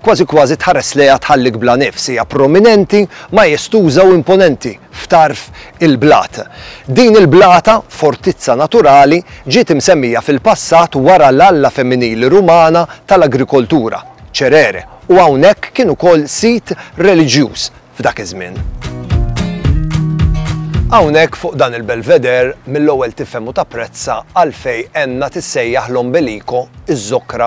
Kważi kważi tħares lejha tħallik bla nifs, hija prominenti, majestuża u imponenti f'tarf il-blat. Din il-blata, fortizza naturali, ġiet imsemmija fil-passat wara l-alla femminili Rumana tal-agrikoltura, Cerere, u hawnhekk kien ukoll sit reliġjuż f'dak iż-żmien. Hawnhekk fuq dan il-Belvedere mill-ewwel tifhem u tapprezza għalfejn għenna tissejjaħ l-Ombelico, iż-żokra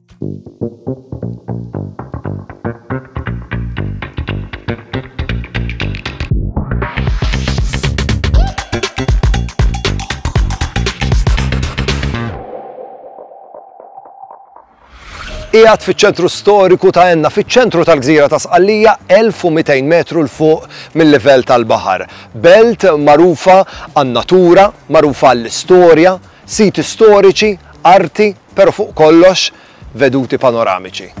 Qiegħed fiċ-ċentru storiku ta' Enna, fiċ-ċentru tal-gżira ta' Sqallija 1200 metru l fuq mill-livell tal-baħar. Belt magħrufa għan-natura, magħrufa għall-istorja, Siti storiċi, arti, pero fuq kollox veduti panoramiċi.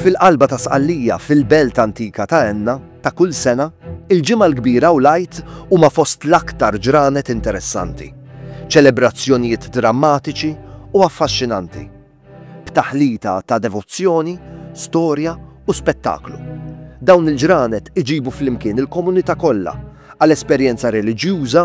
fil-qalba ta' Sqallija, fil-belt antika ta' Enna, ta' kull sena, il-Ġimgħa l-Kbira u l-Għid huma fost l-aktar ġranet interessanti, ċelebrazzjonijiet drammatiċi u affaxxinanti, b'taħlita ta' devozzjoni, storja u spettaklu. Dawn il-ġranet iġibu flimkien il-komunità kollha għal esperjenza reliġjuża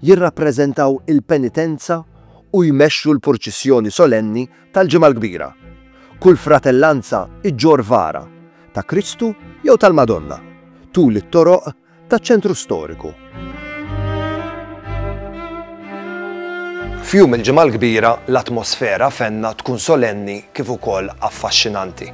jirrappreżentaw il-penitenza u jmexxu l-purċissjoni solenni tal-Ġimgħa l-Kbira. Kull fratellanza ġġorr vara, ta' Kristu jew tal-Madonna, tul it-toroq taċ-ċentru storiku. F'jum il-Ġimgħa l-Kbira, l-atmosfera fenna tkun solenni kif ukoll affaxxinanti.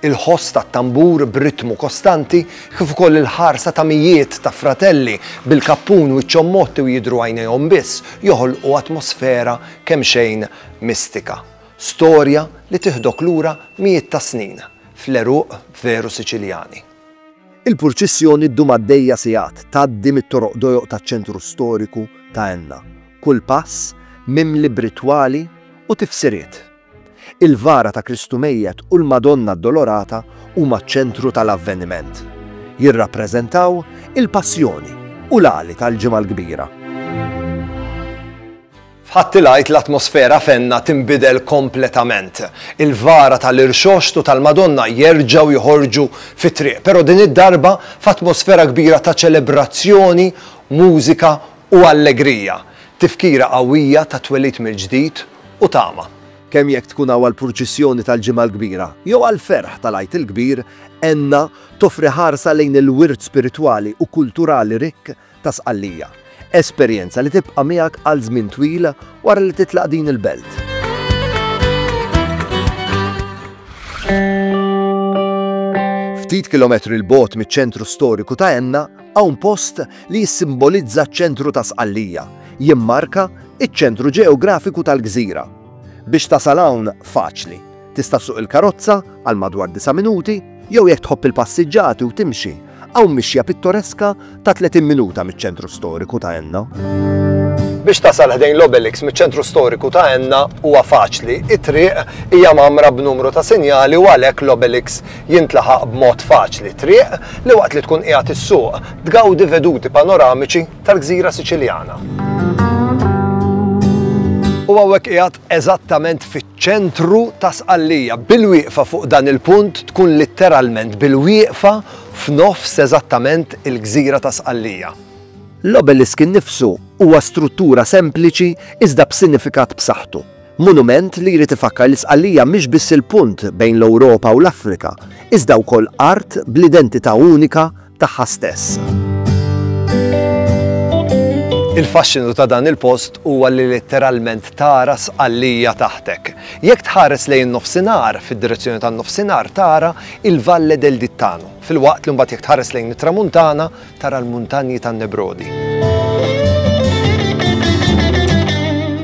Il-ħoss tat-tambur b'ritmu kostanti, kif ukoll il-ħarsa ta' mijiet ta' fratelli bil-kappun wiċċhom mgħotti u jidhru għajnejhom biss, joħolqu atmosfera kemxejn mistika. Storja li tiħdok lura mijiet ta' snin, fl-għeruq veru Siċiljani. Il-purċissjoni ddum għaddejja sigħat, tgħaddi mit-toroq dojoq taċ-ċentru storiku ta' Enna, kull pass mimli b'ritwali u tifsiriet. Il-vara ta' Kristu mejjet u l-Madonna Addolorata huma ċ-ċentru tal-avveniment. Jirrappreżentaw il-Passjoni u l-għali tal-Ġimgħa l-Kbira. F'Ħadd il-Għid l-atmosfera fenna tinbidel kompletament. Il-vara tal-Irxoxt u tal-Madonna jerġgħu joħorġu fit-triq, però din id-darba f'atmosfera kbira ta' ċelebrazzjoni, mużika u allegrija. Tifkira qawwija tat-twelid mill-ġdid u tama. Kemm jekk tkun hawn għall-purċissjoni tal-Ġimgħa l-Kbira jew għall-ferħ tal-Għid il-Kbir, Enna toffri ħarsa lejn il-wirt spiritwali u kulturali rikk ta' Sqallija, esperjenza li tibqa' miegħek għal żmien twil wara li titlaq din il-belt. Ftit kilometri 'l bogħod miċ-ċentru storiku ta' Enna, Hawn post li jissimbolizza ċ-ċentru ta' Sqallija, jimmarka iċ-ċentru ġeografiku tal-gżira. Biex tasal hawn faċli. Tista' ssuq il-karozza għal madwar disa' minuti, jew jekk tħobb il-passiġġati u timxi, hawn mixja pittoreska ta' 30 minuta miċ-ċentru storiku ta' Enna. Biex tasal ħdejn l-Obelix miċ-ċentru storiku ta' Enna huwa faċli, it-triq hija mamra b'numru ta' sinjali u għalhekk l-Obelix Jintlaħaq b'mod faċli t-triq li waqt li tkun qiegħed issuq, tgawdi veduti panoramiċi tal-gżira Siċiljana. U hawnhekk qiegħed eżattament fiċ-ċentru ta' Sqallija. Bil-wieqfa fuq dan il-punt tkun litteralment bil-wieqfa f'nofs eżattament il-gżira ta' Sqallija. L-obelisk innifsu huwa struttura sempliċi iżda b'sinifikat b'saħħtu. Monument li jrid ifakkar li Sqallija mhix biss il-punt bejn l-Ewropa u l-Afrika, iżda wkoll art bl-identità unika tagħha stess. Il-faxxinu ta' dan il-post huwa li litteralment tara Sqallija taħtek. Jekk tħares lejn in-Nofsinhar, fid-direzzjoni tan-Nofsinhar tara il-Valle del Dittano, filwaqt li mbagħad jekk tħares lejn it-Tramuntana, tara l-muntanji tan-Nebrodi.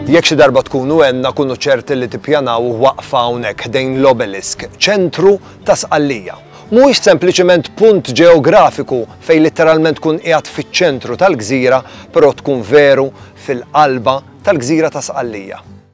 Jekk xi darba tkunu għenna kunu ċerti li tippjanaw waqfa hawnhekk ħdejn l-obelisk, ċentru ta' Sqallija. Mhuwiex sempliċement punt ġeografiku fejn litteralment tkun qiegħed fiċ-ċentru tal-gżira, però tkun veru fil-qalba tal-gżira ta' Sqallija.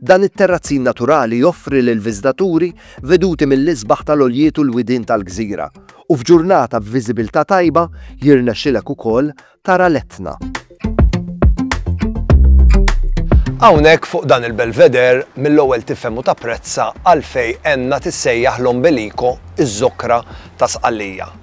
Dan it-terrazzin naturali joffri lill-viżitaturi veduti mill-isbaħ tal-għoljiet u l-widien tal-gżira, u f'ġurnata b'viżibilità tajba jirnexxilek ukoll tara l-Etna. Hawnhekk fuq dan il-Belvedere mill-ewwel tifhem u tapprezza għalfejn għenna tissejjaħ l-Ombelico, iż-Żokra ta' Sqallija.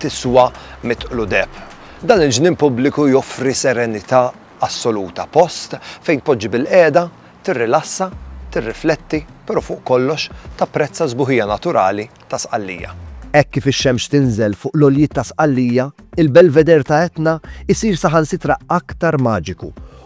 tiswa mitqlu deheb. Dan il-ġnien pubbliku joffri serenità assoluta, post fejn tpoġġi bilqiegħda, tirrilassa, tirrifletti, però fuq kollox tapprezza s-sbuħija naturali ta' Sqallija. Hekk kif ix-xemx tinżel fuq l-għoljiet ta' Sqallija, il-Belvedere ta' Etna jsir saħansitra aktar maġiku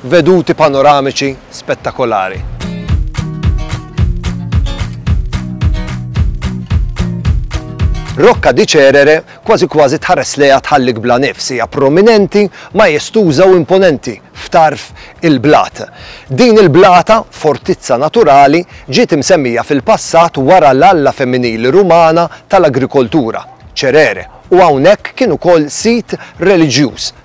veduti panoramiċi spettakolari. Rocca di Cerere kważi kważi tħares lejha tħallik bla nifs, hija prominenti, majestuża u imponenti f'tarf il-blat. Din il-blata, fortizza naturali, ġiet imsemmija fil-passat wara l-alla femminili Rumana tal-agrikoltura, Cerere, u hawnhekk kien ukoll sit reliġjuż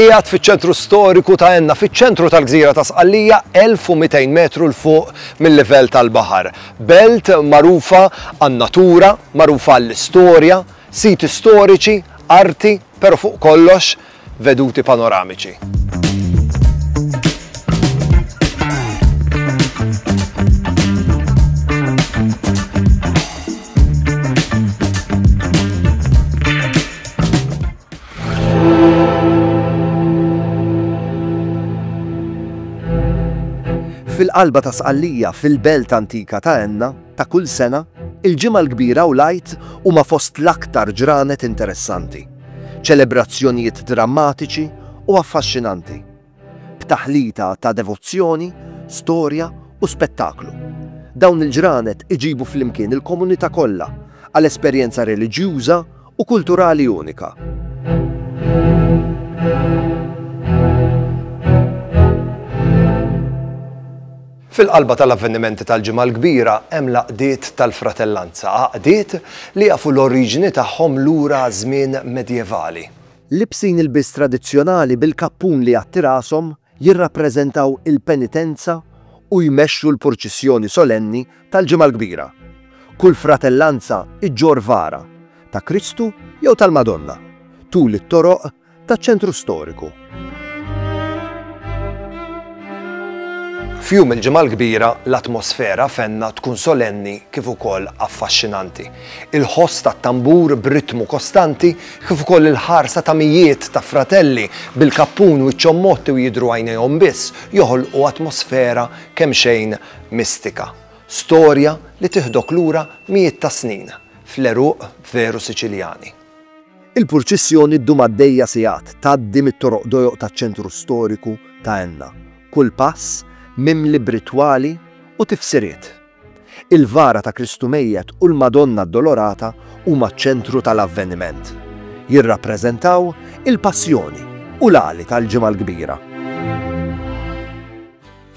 Qiegħed fiċ-ċentru storiku ta' Enna, fiċ-ċentru tal-gżira ta' Sqallija, 1,200 metru 'l fuq mil-livell tal-baħar. Belt magħrufa għan-natura, magħrufa għall-istorja, siti storiċi, arti, pero' fuq kollox, veduti panoramiċi. Fil-qalba ta' Sqallija, fil-belt antika ta' Enna, ta' kull sena, il-Ġimgħa l-Kbira u l-Għid huma fost l-aktar ġranet interessanti, ċelebrazzjonijiet drammatiċi u affaxxinanti. b'taħlita ta' devozzjoni, storja u spettaklu. Dawn il-ġranet iġibu flimkien il-komunità kollha għal esperjenza reliġjuża u kulturali unika. Fil-qalba tal-avvenimenti tal-Ġimgħa l-Kbira hemm l-għaqdiet tal-fratellanza, għaqdiet li jafu l-oriġini tagħhom lura għaż-żmien medjevali. Libsin ilbies tradizzjonali bil-kappun li jgħatti rashom, jirrappreżentaw il-penitenza u jmexxu l-purċissjoni solenni tal-Ġimgħa l-Kbira. Kull fratellanza ġġorr vara, ta' Kristu jew tal-Madonna, tul it-toroq taċ-ċentru storiku. F'jum il-Ġimgħa l-Kbira, l-atmosfera fenna tkun solenni kif ukoll affaxxinanti. Il-ħoss tat-tambur b'ritmu kostanti, kif ukoll il-ħarsa ta' mijiet ta' fratelli bil-kappun wiċċhom mgħotti u jidhru għajnejhom biss, joħolqu atmosfera kemxejn mistika. Storja li tiħdok lura mijiet ta' snin, fl-għeruq veru Siċiljani. Il-purċissjoni ddum għaddejja sigħat, tgħaddi mit-toroq dojoq taċ-ċentru storiku ta' Enna, kull pass mimli b'ritwali u tifsiriet. Il-vara ta' Kristu mejjet u l-Madonna Addolorata huma ċ-ċentru tal-avveniment. Jirrappreżentaw il-Passjoni u l-għali tal-Ġimgħa l-Kbira.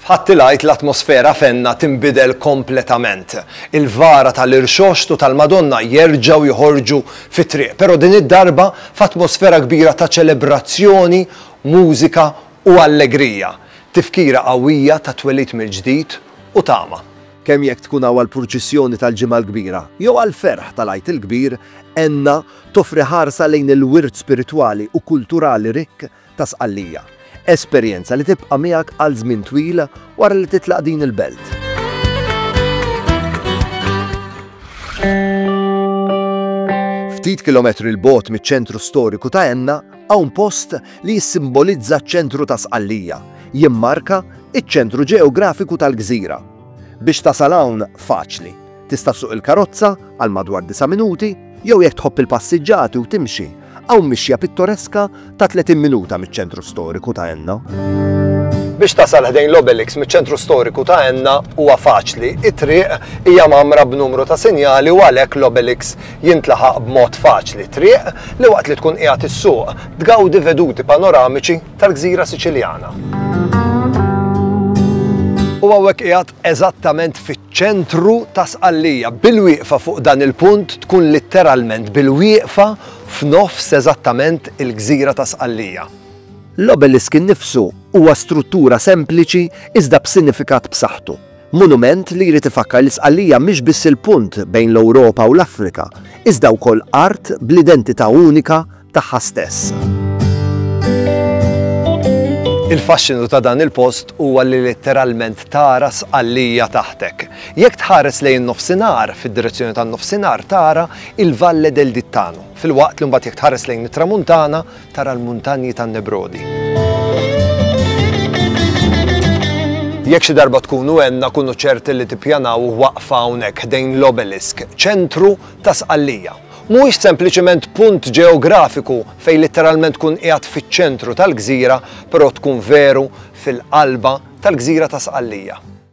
F'Ħadd il-Għid l-atmosfera fenna tinbidel kompletament. Il-vara tal-Irxoxt u tal-Madonna jerġgħu joħorġu fit-triq, però din id-darba f'atmosfera kbira ta' ċelebrazzjoni, mużika u allegrija. Tifkira qawwija tat-twelid mill-ġdid u tama. Kemm jekk tkun hawn għall-purċissjoni tal-Ġimgħa l-Kbira jew għall-ferħ tal-Għid il-Kbir, Enna toffri ħarsa lejn il-wirt spiritwali u kulturali rikk ta' Sqallija, esperjenza li tibqa' miegħek għal żmien twil wara li titlaq din il-belt. Ftit kilometri 'l bogħod miċ-ċentru storiku ta' Enna, Hawn post li jissimbolizza ċ-ċentru ta' Sqallija, jimmarka iċ-ċentru ġeografiku tal-gżira. Biex tasal hawn faċli. Tista' ssuq il-karozza għal madwar disa' minuti jew jekk tħobb il-passiġġati u timxi, hawn mixja pittoreska ta' 30 minuta miċ-ċentru storiku ta' Enna. Biex tasal ħdejn l-Obelix miċ-ċentru storiku ta' Enna huwa faċli, it-triq hija mamra b'numru ta' sinjali u għalhekk l-Obelix Jintlaħaq b'mod faċli t-triq li waqt li tkun qiegħed issuq, tgawdi veduti panoramiċi tal-gżira Siċiljana. U hawnhekk qiegħed eżattament fiċ-ċentru ta' Sqallija. Bil-wieqfa fuq dan il-punt tkun litteralment bil-wieqfa f'nofs eżattament il-gżira ta' Sqallija. L-obelisk innifsu huwa struttura sempliċi iżda b'sinifikat b'saħħtu. Monument li jrid ifakkar li Sqallija mhix biss il-punt bejn l-Ewropa u l-Afrika, iżda wkoll art bl-identità unika tagħha stess. Il-faxxinu ta' dan il-post huwa li litteralment tara Sqallija taħtek. Jekk tħares lejn in-nofsinhar, fid-direzzjoni tan-nofsinhar tara il-Valle del Dittano, filwaqt li mbagħad jekk tħares lejn it-tramuntana, tara l-muntanji tan-Nebrodi. Jekk xi darba tkunu għenna kunu ċerti li tippjanaw waqfa hawnhekk ħdejn l-obelisk, ċentru ta' Sqallija. Mhuwiex sempliċement punt ġeografiku fejn litteralment tkun qiegħed fiċ-ċentru tal-gżira, però tkun veru fil-qalba tal-gżira ta' Sqallija.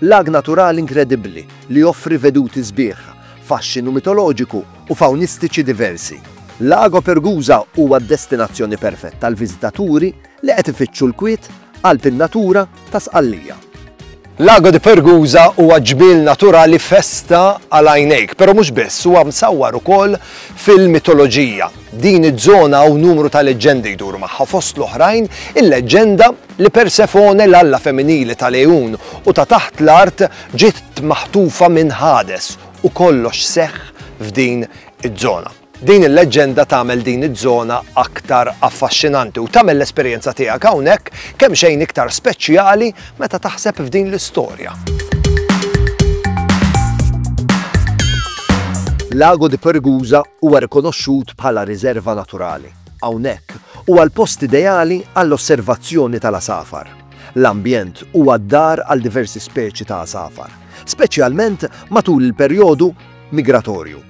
Lag naturali inkredibbli li joffri veduti sbieħ, faxxinu mitoloġiku u fawnistiċi diversi. Lago Pergusa huwa d-destinazzjoni perfetta għal viżitaturi li qed ifittxu l-kwiet, qalb in-natura, ta' Sqallija. Lago di Pergusa huwa ġmiel naturali festa għal għajnejk, però mhux biss, huwa msawwar ukoll fil-mitoloġija. Din iż-żona hawn numru ta' leġġendi jduru magħha fost l-oħrajn il-leġġenda li Persefone l-alla femminili tal-għejun u ta' taħt l-art ġiet maħtufa minn Hades u kollox seħħ f'din iż-żona. Din il-leġġenda tagħmel din iż-żona aktar affaxxinanti u tagħmel l-esperjenza tiegħek hawnhekk kemxejn iktar speċjali meta taħseb f'din l-istorja. Lago di Pergusa huwa rikonoxxut bħala riserva naturali. Hawnhekk huwa l-post ideali għall-osservazzjoni tal-għasafar. L-ambjent huwa d-dar għal diversi speċi ta' għasafar, speċjalment matul il-perjodu migratorju.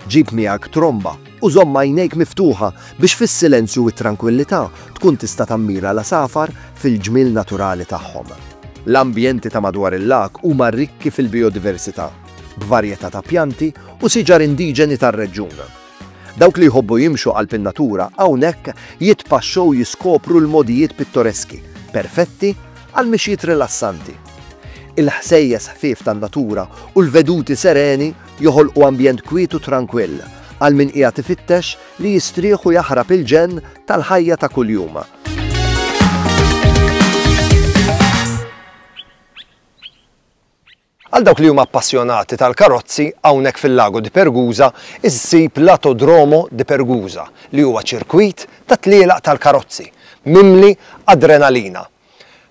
Ġib miegħek tromba u żomm għajnejk miftuħa biex fis-silenzju u t-trankwillità tkun tista' tammira l-għasafar fil-ġmiel naturali tagħhom. L-ambjenti ta' madwar il-lag huma rikki fil-bijodiversità, b'varjetà ta' pjanti u siġar indiġeni tar-reġjun. Dawk li jħobbu jimxu qalb in-natura hawnhekk jitpaxxew u jiskopru l-mogħdijiet pittoreski, perfetti għal mixjiet rilassanti. Il-ħsejjes ħfief tan-natura u l-veduti sereni joħolqu ambjent kwiet u trankwill għal min qiegħed ifittex li jistrieħ u jaħrab il-ġenn tal-ħajja ta' kuljum. Għal dawk li huma appassjonati tal-karozzi, hawnhekk fil-Lago di Pergusa issib l-Atodromo di Pergusa, li huwa ċirkwit ta' tlielaq tal-karozzi, mimli adrenalina,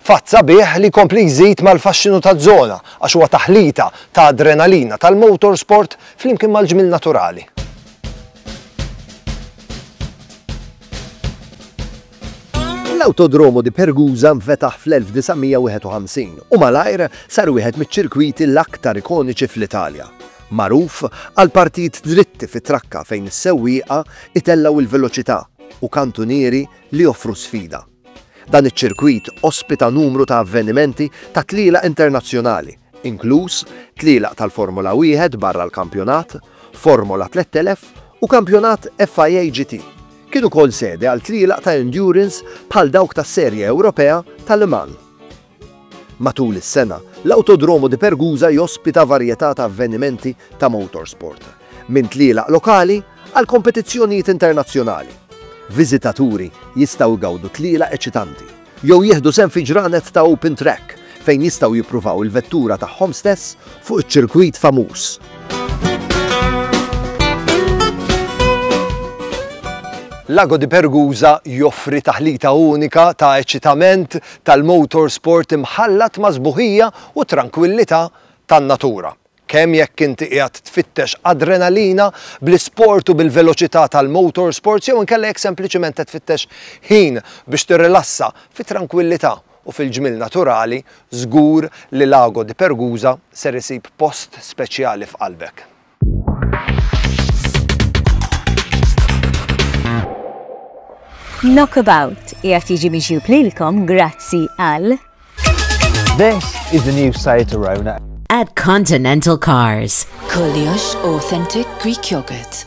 Fatt sabiħ li jkompli jżid mal-faxxinu taż-żona għax huwa taħlita ta' adrenalina tal-motorsport flimkien mal-ġmiel naturali. L-Autodromo di Pergusa nfetaħ fl-1951 u malajr sar wieħed miċ-ċirkwiti l-aktar ikoniċi fl-Italja. Magħruf għal partijiet dritti fit-trakka fejn is-sewwieqa jtellgħu l-veloċità u kantunieri li joffru sfida. Dan iċ-ċirkwit ospita numru ta' avvenimenti ta' tlielaq internazzjonali, inkluż tlielaq tal-Formula Wieħed barra l-kampjonat, Formola 3000 u kampjonat FIA GT. Kien ukoll sede għal tlielaq ta' endurance bħal dawk tas-Serje Ewropea ta' Le Mans. Matul is-sena, l-Autodromo di Pergusa jospita varjetà ta' avvenimenti ta' motorsport, minn tlielaq lokali għal kompetizzjonijiet internazzjonali. Viżitaturi jistgħu jgawdu tlielaq eċitanti, jew jieħdu sehem fi ġranet ta' open track fejn jistgħu jippruvaw il-vettura tagħhom stess fuq iċ-ċirkwit famuż. Lago di Pergusa joffri taħlita unika ta' eċitament, tal-motor sport imħallat ma' sbuħija u trankwillità tan-natura. Kemm jekk inti qiegħed tfittex adrenalina bl-isport u bil-veloċità tal-motor sports jew inkella jekk sempliċiment qed tfittex ħin biex tirrilassa fit-trankwillità u fil-ġmiel naturali, żgur li Lago di Pergusa ser isib post speċjali f'qalbek. Knockabout qiegħed jiġi miġjub lilkom grazzi għal This is the new site to Rona. At Continental Cars. Koliosh Authentic Greek Yogurt.